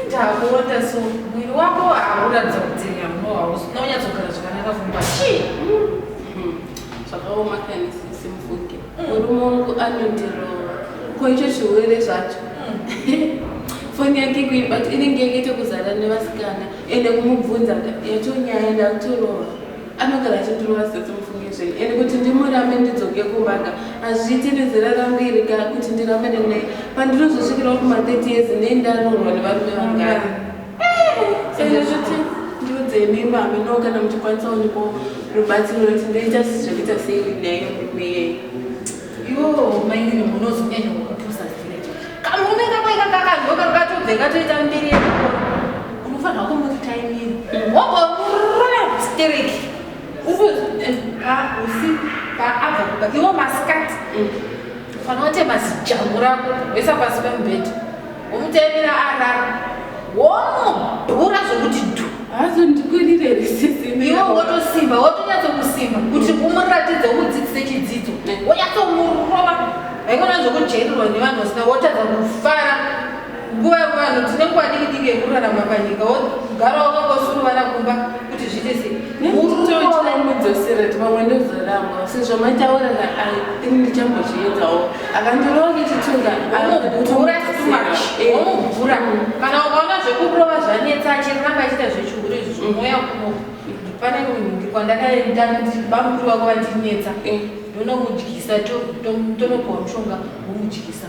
ndakuona so mwiri wako hauratidza kuti unonyatsogara zvakanaka kumba chii zvakaoma kani sisi mvuke murume wangu anondirova ko icho chirwere zvacho foni yake kuibati inenge yakaita kuzara nevasikana ende kumubvunza yatonyaya ndakutorova anogara achindirova sisi mufunge zvenyu and kuti ndimurambe ndidzoke kumanga hazviiti nezera rangu iri ka kuti ndirambe nene pandinozosvikirawo kuma 30 years nei ndanorwa nevarume vangani sezvo zvoti ndiudzei mimba haminowo kana muchikwanisa unipo rubatsiro roti ndoita zvekuita sei neyo murume iyei Yoo, mainini munozonyanya kupusa zvirecho. Kamurume kako ika kakadyoka kakatobve katoita mbiri yako. Unofanira kumuti taimiri. Wobva murume stereki. Ubu eh, pa usi pa abva kuba. Iwo masikati. Ufanira kutema zijambo rako wesa pasi pemubhedha. Umutevera arara. Womudhura zvekuti dhu. Hazondikurire risisi. Iwe wotosimba, wotonyatso kusimba kuti umuratidze umudzidzise chidzidzo. Wonyatso murova. Haikona zvokujairirwa nevanhu vasina wotadza kufara. Nguva yevanhu tine nguva diki diki yekurarama panyika wogara wakangosuruvara kumba kuti zviite sei. Ndinotochira mudzosera kuti vamwe ndozoramba. Sezvo mataura na I think ndichambozviedzawo. akandirongi chitunda anobhura too much omubhura eh. mm. kana ukaona zvekurova zvanetsa achiramba achiita zvechihuru izvi zvomweya mm. kuno pane kunhuki kwandakaenda bamukuru vako vandinetsa eh. ndonomudyisa tonopiwa mushonga womudyisa